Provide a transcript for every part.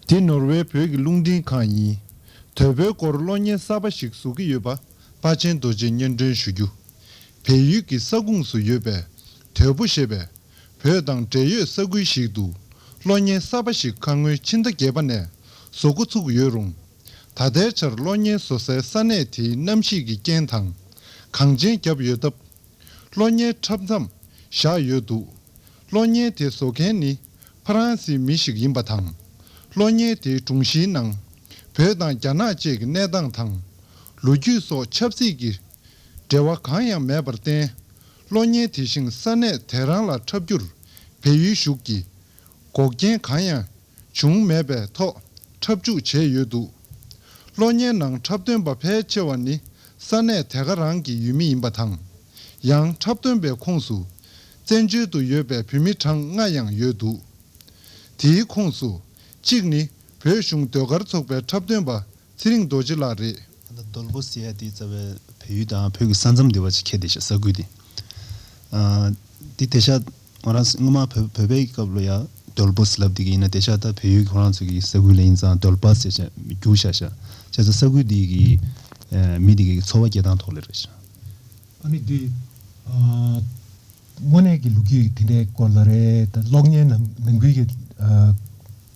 འདི་ནོར་ཝེ་བོད་ཀྱི་རླུང་འཕྲིན་ཁང་ཡིན། དོལ་པོའི་སྐོར་གློག་བརྙན་གསར་པ་ཞིག་བཟོ་གི་ཡོད་པ་དཔའ་ཆེན་རྡོ་རྗེས་སྙན་སྒྲོན་ཞུ་རྒྱུ། བལ་ཡུལ་གྱི་ས་ཁུངས་སུ་ཡོད་པའི་དོལ་པོ་ཞེས་པའི་བོད་དང་འབྲེལ་ཡོད་ས་ཁུལ་ཞིག་ཏུ་གློ་བརྙན་གསར་པ་ཞིག་ཁ་སྔོན་ཕྱི་ཟླ་བརྒྱད་པ་ནས་བཟོ་འགོ་ཚུགས་ཡོད་རུང། ད་ལྟའི་ཆར་གློ་བརྙན་བཟོ་སའི་ས་གནས་དེའི་གནམ་གཤིས་ཀྱི་རྐྱེན་དང་གངས་ཅན་རྒྱབ་ཡོད་སྟབས། གློ་བརྙན་འཁྲབ་མཚམས་བཞག་ཡོད་འདུག་གློ་བརྙན་དེ་བཟོ་མཁན་ནི་ཕ་རན་སིའི་མི་ཞིག་ཡིན་པ་དང། གློ་བརྙན་དེའི་དྲུང་གཞིའི་ནང་བོད་དང་རྒྱ་ནག་བཅས་ཀྱི་གནས་སྟངས་དང། ལོ་རྒྱུས་སོགས་ཆབ་སྲིད་ཀྱི་འབྲེལ་བ་གང་ཡང་མེད་པར་བརྟེན། གློ་བརྙན་དེ་བཞིན་ས་གནས་དེ་རང་ལ་འཁྲབ་རྒྱུར་བལ་ཡུལ་གཞུག་གིས་འགོག་རྐྱེན་གང་ཡང་བྱུང་མེད་པའི་ཐོག་འཁྲབ་འཇུག་བྱས་ཡོད་འདུག་གློ་བརྙན་ནང་འཁྲབ་སྟོན་པ་ཕལ་ཆེ་བ་ནི་ས་གནས་དེ་ག་རང་གི་ཡུལ་མི་ཡིན་པ་དང། ཡང་འཁྲབ་སྟོན་པའི་ཁོངས་སུ་བཙན་བྱོལ་དུ་ཡོད་པའི་བོད་མི་གྲངས་ལྔ་ཡང་ཡོད་འདུག་དེའི་ཁོངས་སུ་གཅིག་ནི་བོད་གཞུང་ཟློས་གར་ཚོགས་པའི་འཁྲབ་སྟོན་པ་ཚེ་རིང་རྡོ་རྗེ་ལགས་རེད། ད་ལྟ་རྡོལ་པོ་སེ་ཡ་དེའི་རྩ་བའི་བལ་ཡུལ་དང་བོད་ཀྱི་ས་མཚམས་སྡེ་བ་ཆེ་ཁྱད་དེ་ཤ་ཟ་ཁུལ་དེ། འདི་དེ་ཤ་ང་རང་སྔོན་མ་བོད་པའི་ཀྱི་སྐབས་ལོ་ཡ་རྡོལ་པོ་སེ་ལབ་དེ་གི་ཡིན་ན་དེ་ཤ་ད་བལ་ཡུལ་ཁོ་རང་ཚོ་གི་ས་ཁུལ་ལ་ཡིན་ཙང་རྡོལ་པ་སེ་ཆ་རྒྱུག་ཤ་ཤ་ཆ་ས་ས་ཁུལ་དེ་གི་མི་དེ་གི་ཚོ་བ་སྐྱེ་སྟངས་ཐོག་ལེ་རེད་ཤ། ཨ་མི་འདི། དངོས་གནས་ཀྱི་ལུགས་རྒྱུས་དེ་འདྲའི་སྐོར་ལ་རེད་ད་གློག་བརྙན་ནང་ནང་ཁུལ་གྱི།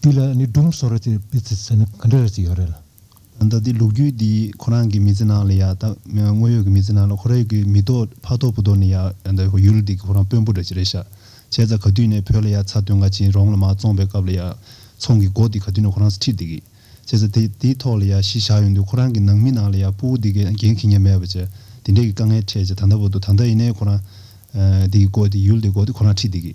འདི་ལ་ནི་སྒྲུང་བཟོ་ར་ཅེས་པའི་ཚིག་ཟེར་ནི་ག་འདྲ་རེད་ཅེས་ཡོད་རེད་ལ། ད་ལྟ་ལུག་རྒྱུད་འདི་ཁོ་རང་གི་མི་ཚེ་ནང་ལ་ཡང་ད་དངོས་ཡོད་ཀྱི་མི་ཚེ་ནང་ལ་ཁོ་རང་གི་མི་ཐོག་ཕ་ཐོག་བུ་ཐོག་ནས་ཡང་ད་ཡུལ་འདི་གི་ཁོ་རང་དཔོན་པོ་རེད་ཅེས་རེད་ཤག་བྱས་ཙང་ག་དུས་ནས་བོད་ལ་ཡང་ཚ་དོན་འགའ་ཅིའི་རོང་ལ་མ་བཙོངས་པའི་སྐབས་ལ་ཡང་ཚོང་གི་སྒོ་འདི་ག་དུས་ནས་ཁོ་རང་ཁྲིད་འདི་གི་བྱས་ཙང་དེ་དེའི་ཐོག་ལ་ཡང་གཞི་བཞག་ཡོད་འདུག་ཁོ་རང་གི་ནང་མི་ནང་ལ་ཡང་སྤུ་བོ་འདི་གི་འགན་ཁྱི་ངན་མེད་པ་ཅེས་འདི་འདྲས་ཀྱི་དཀའ་ངལ་འཕྲད་ཅེས་ད་ད་བོ་ཏོ་ད་ད་ཡིན་ནའི་ཁོ་རང་འདི་གི་སྒོ་འདི་ཡུལ་འདི་གི་སྒོ་འདི་ཁོ་རང་ཁྲིད་འདི་གི།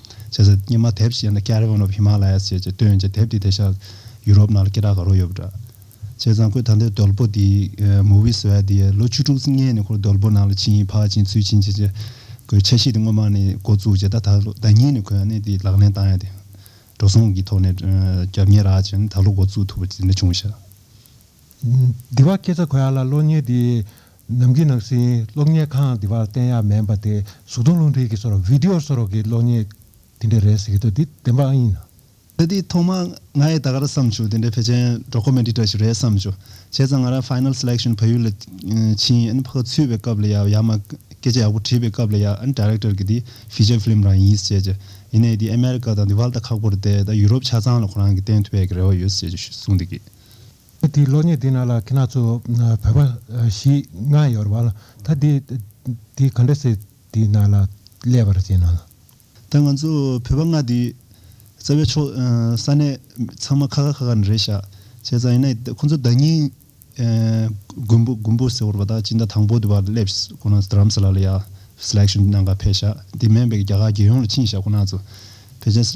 བྱས་ཚེ་སྙེ་མ་དེབ་ཅེས་ན་ཀ་རི་བོན་རོབ་ཧི་མ་ལ་ཡ་ཅེས་ཀྱི་སྟོན་ཅིང་དེབ་དེ་དེ་ཤག་ཡུ་རོབ་ནང་ལ་སྐད་གྲགས་ག་རུང་ཡོད་པ་འདྲ། ཅེས་ཚང་ཁོས་ད་ལྟའི་རྡོལ་པོ་དེ་མོ་བི་སི་ཨ་དེ་ལོ་བཅུ་དྲུག་ཅུ་ལྔའི་ནས་ཁོར་རྡོལ་པོ་ནང་ལ་ཕྱིན་ཕག་ཕྱིན་ཚུལ་ཕྱིན་ཅེས་ཀྱི་ཁོའི་ཆ་ཤས་དེ་སྔོན་མ་ནས་འགོ་བཙུགས་ཀྱི་ད་ད་ལོ་ཟླ་གཉིས་ནས་ཁོས་གནས་དེ་ལག་ལེན་བཏང་ཡ་དེ། འགྲོ་སོང་གི་ཐོག་ནས་རྒྱབ་གཉེར་རག་ཅིང་ནས་ད་ལོ་འགོ་བཙུགས་ཐུབ་པ་དེ་འདྲ་བྱུང་ཞེས། འདི་བ་སྐད་ཆ་གོ་ཡ་ལ་ལོ་གཉིས་དེའི་ནམ་གྱི་ནང་སྲིད་གློག་བརྙན་ཁང་དེ་བར་བསྟན་ཡག་མེད་པ་དེ་གཟུགས་མཐོང་རླུང་མཁྲིས་ཀྱི་སོར Video སོར་གྱི་གློག་བརྙན་དེ་འདྲ་རེད་ཟེར་གྱི་འདུག་འདི་བདེན་པ་ཨང་ཡིན་ནམ། ད་དེའི་ཐོག་མ་ང་ཡི་ད་ག་ར་བསམ་བྱུང་དེ་འདྲའི་བེ་ཅན་འགྲོ་ཁོ་མེད་འདི་འདྲ་ཞིག་རེད་བསམ་བྱུང་བྱས་ཙང་ང་རང Final Selection བལ་ཡུལ་ལ་ཕྱིན་ཨ་ནི་ཕ་ག་ཚུད་པའི་སྐབས་ལ་ཡག་ཡག་མ་སྐད་ཆ་ཡག་པོ་དྲིས་པའི་སྐབས་ལ་ཡག་ཨ་ནི Director གི་འདི Feature Film རང་ཡིན་ཟེར་གྱི་ཡིན་ནའི་འདི America དང་འདི་བལ་ད་ཁག་པོར་བསྡད་ད Europe ཆ་ཚང་ལ་ཁོ་རང་གི་བསྟན་ཐུབ་པའི་གི་རེ་བ་ཡོད་ཟེར་གྱི་གསུངས་འདུག་གི། ད་དེའི་གློག་བརྙན་དེ་ནང་ལ་ཁྱེད་རྣམས་ཚོ་བོད་པ་ཞིག་ང་ཡོད་རེད་བ་ལ་ད་དེ་དེའི་ག་འདྲ་སེ་དེའི་ནང་ལ་ཀླད་པ་རེད་ཅེས་ནང་ལ། ད་ང་ཚོ་བོད་པ་ང་དེའི་རྩ་བའི་ཕྱོགས་ས་གནས་ཚང་མ་ཁ་ཁ་ཁ་ཁ་ནི་རེད་ཤག་བྱས་ཙང་ཡིན་ན་ཁོང་ཚོ་བདག་ཉིད་མགོན་པོ་མགོན་པོ་ཟེར་བ་རེད་བ་ད་ཅི་འདྲ་དང་པོ་དེ་བ་སླེབས་ཤག་ཁོ་ནང་དྲམས་ས་ལ་ལ་ཡག Selection ནང་ག་ཕེབས་ཤག་དེ་མེན་པའི་རྒྱ་གར་རྒྱལ་ཡོངས་ལ་ཕྱིན་ཤག་ཁོ་ནང་ཚོ་བོད་ཆས་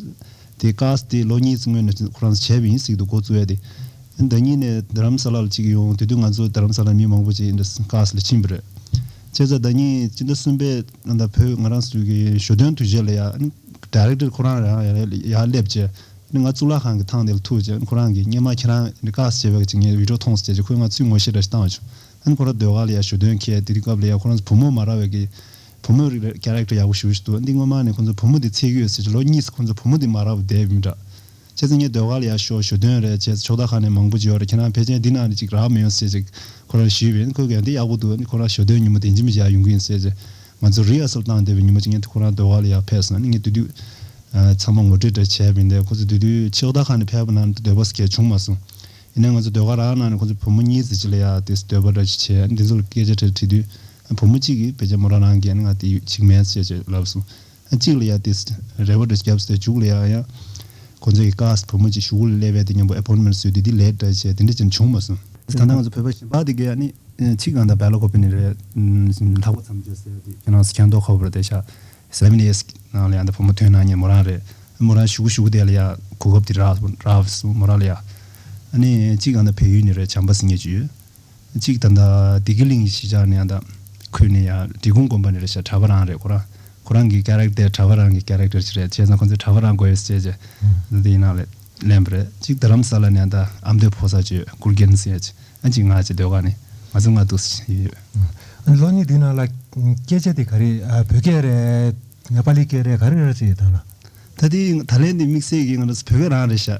དེ་ཀ་ས་དེ་ལོ་གཉིས་སྔོན་ནས་ཁོ་རང་བྱས་པ་ཡིན་ཟིག་འདུག་གོ་ཙུའེ་དེ། ཟླ་གཉིས་ནས་དྷར་རམ་ས་ལ་ལ་ཅིག་ཡོང་དེ་དུས་ང་ཚོ་དྷར་རམ་ས་ལ་མི་མང་པོ་ཅིག་ཀ་ས་ལ་ཕྱིན་པ་རེད། བྱས་ཙང་ཟླ་གཉིས་སྤྱི་ཟླ་གསུམ་པའི་ཟླ་བོད་ང་རང་ཟུར་གྱི་ཞོ་སྟོན་དུས་བཞི་ལ་ཡ Director ཁོ་རང་རང་ཡ་ཡ་སླེབས་ཀྱི། ང་གཙུག་ལག་ཁང་གི་ཐང་དེ་ལ་ཐུག་ཀྱི་ཁོ་རང་གིས་སྙན་མ་ཁྱེད་རང་ཀ་ས་བྱས་པ་ཅིག་ངས་བིད་ཀྲོ་ཐོངས་སོ་བྱས་ཀྱི་ཁོས་ང་ཚོས་ངོ་ཤེས་འདྲ་ཞིག་བཏང་བྱུང། ཁོ་རང་ཟློས་གར་ལ་ཡ་ཞོ་སྟོན་ཁེལ་དེ་དུས་སྐབས་ལ་ཡ་ཁོ་རང་ཚོ་བུ་མོ་མ་ར་བས་ཀྱི་བུ་མོའི་རིགས་པའི Character ཡག་པོ་ཞུ་བཞིན་འདུག་འདི་སྔོན་མ་ནས་ཁོང་ཚོས་བུ་མོ་འདི་ཚིག་ཡོད་ཟེར་གྱི་ལོ་གཉིས་སུ་ཁོང་ཚོས་བུ་མོ་འདི་མ་རག་པ་བསྡད་ཡོད་མིན་དྲག། བྱས་ཙང་ངའི་ཟློས་གར་ལ་ཡར་ཤོག་ཞུ་དོན་རེད་བྱས་ཙང་ཕྱོགས་བདག་ཁ་ནས་མང་པོ་བརྗོད་རེད་ཁྱེད་རང་ཕལ་ཆེན་འདི་ནང་ནས་ཅིག་རག་མི་ཡོང་ཟེར་གྱི་ཁོ་རང་ཞུས་བས་ཁོས་གལ་འདི་ཡག་པོ་འདུག་འདི་ཁོ་རང་ཞུ་དོན་ཉིན་མོ་དེ་འཇིམ་བཞག་ཡོང་གི་ཡིན་ཟེར་གྱི་ང་ཚོས Rehearsal བཏང་བསྡད་པའི་ཉིན་མོ་ཅིག་ངས་ཁོ་རང་ཟློས་གར་ལ་ཡར་ཕེབས་སོང་ངས་དུས་དུས་ཚང་མ་ངོ་སྤྲོད་འདྲ་བྱས་བས་འདས་ཁོ་ཚོས་དུས་དུས་ཕྱོགས་བདག་ཁ་ནས་ཕེབས་པ་ནང་ནས་ཟློས་པ་ཟེར་གྱི་བྱུང་མ་སོང་ཡིན་ནའི་ང་ཚོས་ཟློས་གར་རག་ནང་ནས་ཁོང་ཚོས་བུ་མོ་གཉིས་ཟེར་གྱི་ལ་ཡར་དེ་ཟློས་པ་འདྲ་ཅིག་བྱས་འདི་ཚོ་ལ་སྐད་ཆ་དྲིས་དུས་དུས། བུ་མོ་གཅིག་གིས་བེ་ཅ་མོ་ར་རང་གནས་ང་དེ་ཡོད་ཅིག་མེད་ཅེས་ཅེས་ལབ་སོང། གཅིག་ལ་ཡ་དེས་རེ་བ་འདྲ་བརྒྱབ་སྟེ་བྱུགས་ལ་ཡ་ཡ། ཁོ་ཚོས་ཀྱི་ཀཱས་བུ་མོ་གཅིག་ཞུགས་ལ་སླེ་བས་དེ་མཉམ་པོ་ཨེ་བོར་མེར་བཟོས་དུས་དེ་ལས་འདྲ་བྱས་དེ་འདྲ་ཅན་བྱུང་མ་སོང། ད་ལྟ་ང་ཚོ་བོད་པ་ཞེས་པ་དེ་གའི་ནི་ཆིག་རྐང་དང་བལ་ལོ་ཁོ་པེ་ནི་རེད། ལྷག་པ་མཚམས་བརྗོད་ཟེར་དུས་ཁྱེད་རང་སུ་ཁྱེད་མདོག་ཁ་བོ་རེད་དེ་ཤ། Seven years ནང་ལ་ཡ་འདི་བུ་མོ་དོན་ནང་ཉིད་མོ་རང་རེད། མོ་རང་ཞུགས་ཞུགས་དེ་ལ་ཡ་གོ་སྐབས་དེ་རག་བསོང་མོ་རང་ལ་ཡ། ནི་ཆིག་རྐང་དང་བལ་ཡུལ་ནི་རེད་བྱམས་པ་སི་ངེ་བྱུས་ཡོད། གཅིག་དང་ད་ལྡི་གི་གླིང་གི་གཞིས་ཆགས་ནས་ཡང་དག་ཁུར་ནས་ཡང་འབྲི་གུང་དགོན་པ་ནས་རེད་བྱས་གྲྭ་པ་རང་རེད་ཁོ་རང་ཁོ་རང་གི Character གྲྭ་པ་རང་གི Character ཅིག་རེད་བྱས་ཙང་ཁོང་ཚོས་གྲྭ་པ་རང་དགོས་ཡོད་ཟེར་བྱས་ཅི་དེ་ཡིན་ན་ལས་ལན་པ་རེད་གཅིག་རྡ་རམ་ས་ལ་ནས་ཡང་དག་ཨ་མདོའི་ཕོ་སར་ཅིག་སྐུར་འགེན་ཟེར་བྱས་ཨ་ཅིག་ང་ཅིག་སྡོད་ཁང་ནས་ང་ཚོ་ལྔ་འདུག་ཟེར་བྱས་ཡོད། ལོ་གཉིས་དེའི་ནང་ལ་སྐད་ཆ་དེ་ག་རེད་བོད་སྐད་རེད་ནེ་པ་ལི་སྐད་རེད་ག་རེ་རེད་ཟེར་ཡོད་དམ་ལགས། ད་དེ་ད་ལན་དེ་དམིགས་བསལ་གྱིས་ང་རང་ཚོ་བོད་སྐད་རང་རེད་བྱས།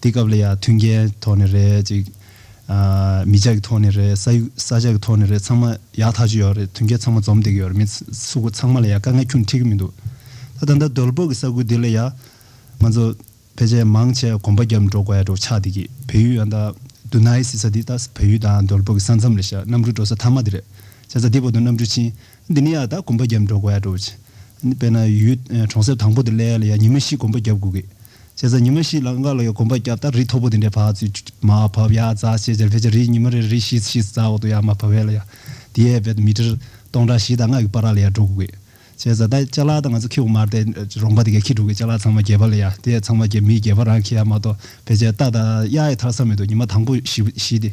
དེ་སྐབས་ལ་ཡ་མཐུན་རྐྱེན་ཐོག་ནས་རེད་ཅིག། མི་ཆགས་ཀྱི་ཐོག་ནས་རེད་ས་ཡུག་ས་ཆ་གི་ཐོག་ནས་རེད་ཚང་མ་ཡག་ཐག་ཆོད་ཡོད་རེད་མཐུན་རྐྱེན་ཚང་མ་འཛོམས་བསྡད་ཀྱི་ཡོད་རེད་མི་སུ་ཁོ་ཚང་མ་ལ་ཡ་དཀའ་ངལ་ཁྱོན་འཁྲི་གི་མི་འདུག་ད་ད་ལྟ་རྡོལ་པོ་གི་ས་ཁུལ་འདི་ལ་ཡ་ང་ཚོ་ཕལ་ཆེར་མང་ཆེ་གོམ་པ་བརྒྱབ་འགྲོ་དགོས་ཡ་འགྲོ་ཆགས་བསྡད་ཀྱི་བལ་ཡུལ་ཡང་ད་དུ་ནའི་སྲིད་ས་འདི་ད་བལ་ཡུལ་དང་རྡོལ་པོ་གི་ས་མཚམས་རེད་ཤག་གནམ་གྲུ་འགྲོ་ས་ཐ་མ་འདི་རེད་བྱས་ཙང་འདི་བར་དུ་གནམ་གྲུ་ཕྱིན། འདི་ནི་ཡང་དག་གོམ་པ་བརྒྱབ་འགྲོ་དགོས་ཡ་འགྲོ་བྱས། དཔེར་ན་ཡུལ་གྲོང་གསེབ་དང་པོ་དེ་ལས་ཡ་ཉི་མ་བཞི་གོམ་པ་བརྒྱབ་དགོས་གི། བྱས་ཙང་ཉི་མ་བཞི་ལ་འགའ་ལ་ཡ་གོམ་པ་བརྒྱབ་སྟབས་རི་མཐོ་པོ་དེ་འདྲའི་བག་ཚུད་མ་བབས་ཡ་རྫ་ཆེ་ཆེར་བེད་ཅེས་རི་ཉི་མ་རེར་རི་བཞི་བཞི་རྫ་འོག་ཏུ་ཡ་མ་བབས་བས་ལ་ཡ་དེ་ཡའི་བེད་མི་ཁྲིར་སྟོང་ཕྲག་བཞི་དང་ལྔ་གི་པར་ར་ལ་ཡ་འགྲོ་དགོས་གི། བྱས་ཙང་ད་ལྕགས་ལ་དང་ང་ཚོ་ཁྱི་འོ་མར་དེ་རོང་པ་དེ་གས་ཁྱི་འདྲུག་གི་ལྕགས་ལ་ཚང་མ་རྒྱས་པ་ལ་ཡ་དེ་ཡས་ཚང་མ་རྒྱས་མི་རྒྱས་པ་རང་གི་ཡ་མ་གཏོགས་བེད་ཅེས་རྟ་དང་གཡའ་ཡི་མཐར་ས་མེད་དུ་ཉི་མ་དང་པོ་བཞི་བཞི་དེ།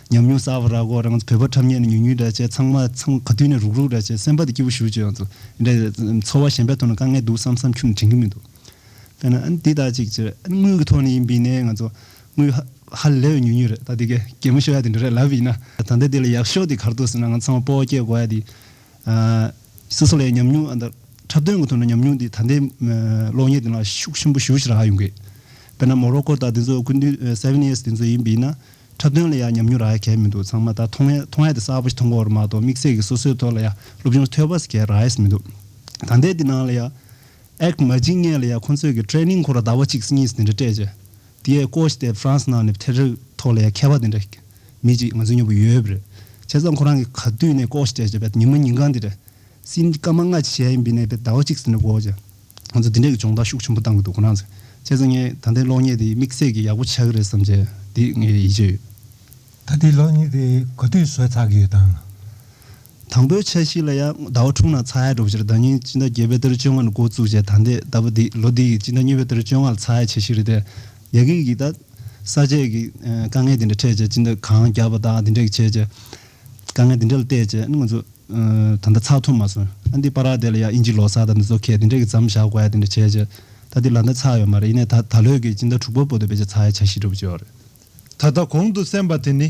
ཉམས་མྱོང་གསར་བ་རག་གོ་རང་བོད་པ་ཁྲབ་ཉེས་ནས་ཉུག་ཉུག་འདྲ་བྱས་ཚང་མ་ཚང་ག་དུས་ནས་རུག་རུག་འདྲ་བྱས་སེམས་པ་དེ་སྐྱིད་པོ་ཞུ་ཅོག་འདྲ་འཚོ་བ་གཞན་པའི་ཐོག་ནས་དཀའ་ངལ་འདུག་བསམ་བསམ་ཁྱུ་ནས་དྲན་གི་མི་འདུག་དཔེར་ན་འདི་ལྟར་ཅིག་བྱས་དངུལ་གི་ཐོག་ནས་ཡིན་པིན་ནས་ང་ཚོ་དངུལ་ཧ་ལས་པའི་ཉུག་ཉུག་རེད་ད་དེ་གའི་གད་མོ་ཤོར་ཡ་དེ་འདྲ་རེད་ལབ་ཡིན་ན། ད་ལྟ་དེ་ལ་ཡག་ཤོས་དེ་གར་འདུག་ཟེར་ན་ང་ཚང་མ་སྤོ་བོ་སྐྱེས་དགོ་ཡ་དེ། སོ་སོ་ལ་ཡང་ཉམས་མྱོང་འདི་འཁྲབ་སྟོན་གི་ཐོག་ནས་ཉམས་མྱོང་དེ་ད་ལྟའི་གློག་བརྙན་དེ་ལ་ཤུགས་ཆེན་པོ་ཞུགས་ཤིག་རག་ཡོང་གི། དཔེར་ན་མོ་རོ་ཀོ་དང་དེ་ཚོ་ཀུན་འདུས seven years དེ་ཚོ་ཡིན་པིན་ན། འཁྲབ་སྟོན་ལ་ཡང་ཉམས་མྱོང་རག་གལ་མི་འདུག་ཚང་མ་ད་ཐོངས་ཡས་ཐོངས་ཡས་དེ་གསར་པ་ཞིག་མཐོང་གོ་ར་མ་གཏོགས་དམིགས་བསལ་གྱི་སོ་སོའི་ཐོག་ལ་ཡང་སློབ་སྦྱོང་ཐོས་པ་ཟེར་གལ་རག་ཡས་མི་འདུག་ད་ལྟའི་དེ་ནང་ལ་ཡང། ཨེག་མ་ཇིང་ངས་ལ་ཡང་ཁོང་ཚོས་ཀྱི Training ཁོ་ར་ཟླ་བ་གཅིག་གཉིས་དེ་འདྲ་སྤྲད་རྗེས། དེ་ཡས Coach དེས France ནང་ནས་ཐེ་རིག་ཐོག་ལ་ཡང་མཁས་པ་དེ་འདྲ་མི་གཅིག་ང་ཚོའི་མྱོང་བ་ཡོད་པ་རེད། བྱས་ཙང་ཁོ་རང་གིས་ག་དུས་ནས Coach སྤྲད་རྗེས་པས་ཉིན་མ་ཉིན་གང་དེ་འདྲ། སིན་སྐར་མ་ལྔ་ཆ་ཞལ་ཡིན་པའི་ནས་པས་ཟླ་བ་གཅིག་དེ་འདྲ་འགོར་རྗེས། ང་ཚོ་འདི་འདྲའི་སྦྱོང་བརྡར་ཤུགས་ཆེན་པོ་བཏང་གི་འདུག་ཁོ་ནའང་ཟེར། བྱས་ཙང་ངས་ད་ལྟའི་གློག་བརྙན་དེ་དམིགས་བསལ་གྱིས་ཡག་པོ་ཆགས་ཀྱི་རེད་བསམ་བྱས། འདི་ངས་ཡིད་ཆེས་ཡོད། ད་ལྟའི་གློག་བརྙན་དེ་གོ་ཐོས་བཟོས་ཚར་གི་ཡོད་དམ། དང་པོའི་ཆ་ཞིག་ལ་ཡང་ཟླ་བ་དྲུག་ནང་ཚ་ཧའི་སྒྲོག་སྦྱོར་ཟླ་ཉིན་སྤྱི་ཟླ་བརྒྱད་པའི་ཏེ་རུ་བཅོ་ལྔ་ནས་འགོ་བཙུགས་རྗེས་ད་ལྟའི་ཟླ་བ་འདི་ལོ་འདི་ཡི་སྤྱི་ཟླ་གཉིས་པའི་ཏེ་རུ་བཅོ་ལྔ་ལ་ཚ་ཧའི་ཆ་ཞིག་རེད་དེ། རྒྱ་སྐད་ཀྱིས་ད། ས་བཅད་ཀྱི་དཀའ་ངལ་དེ་འདྲ་འཕྲད་རྗེས་སྤྱི་ཟླ་གང་བརྒྱབ་པ་དང་དེ་འདྲས་ཀྱི་བྱས་རྗེས། དཀའ་ངལ་འདི་འདྲ་ལ་བལྟས་རྗེས་ང་ཚོས་ད་ལྟ་ཚགས་ཐུབ་མ་སོང། ཨ་འདི་པར་རག་དེ་ལ་ཡང་ཨིན་ཇིའི་ལོ་སར་དང་འདི་ཚོ་ཁས་འདི་འདྲ་གི་ཙམ་བཞག་དགོས་ཡ་དེ་འདྲ་བྱས་རྗེས་ད་འདི་ལ་འདི་ཚགས་ཡོད་མ་རེད་ཡིན་ནའི་ད་ད་ལོའི་གི་སྤྱི་ཟླ་དྲུག་པ་པོ་དེ་བས་ཀྱང་ཚགས་ཡ་ཆ་ཤི་འགྲོ་བྱེད་ཡོད་རེད། ད་ལྟ་གོང་དུ་གསན་པ་དེ་ནི་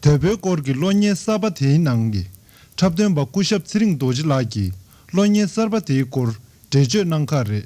དོལ་པོའི་སྐོར་གྱི་གློག་བརྙན་གསར་པ་དེའི་ནང་གི་འཁྲབ་སྟོན་པ་སྐུ་ཞབས་ཚེ་རིང་རྡོ་རྗེ་ལགས་ཀྱིས་གློག་བརྙན་གསར་པ་དེའི་སྐོར་འགྲེལ་བརྗོད་གནང་ཁག་རེད།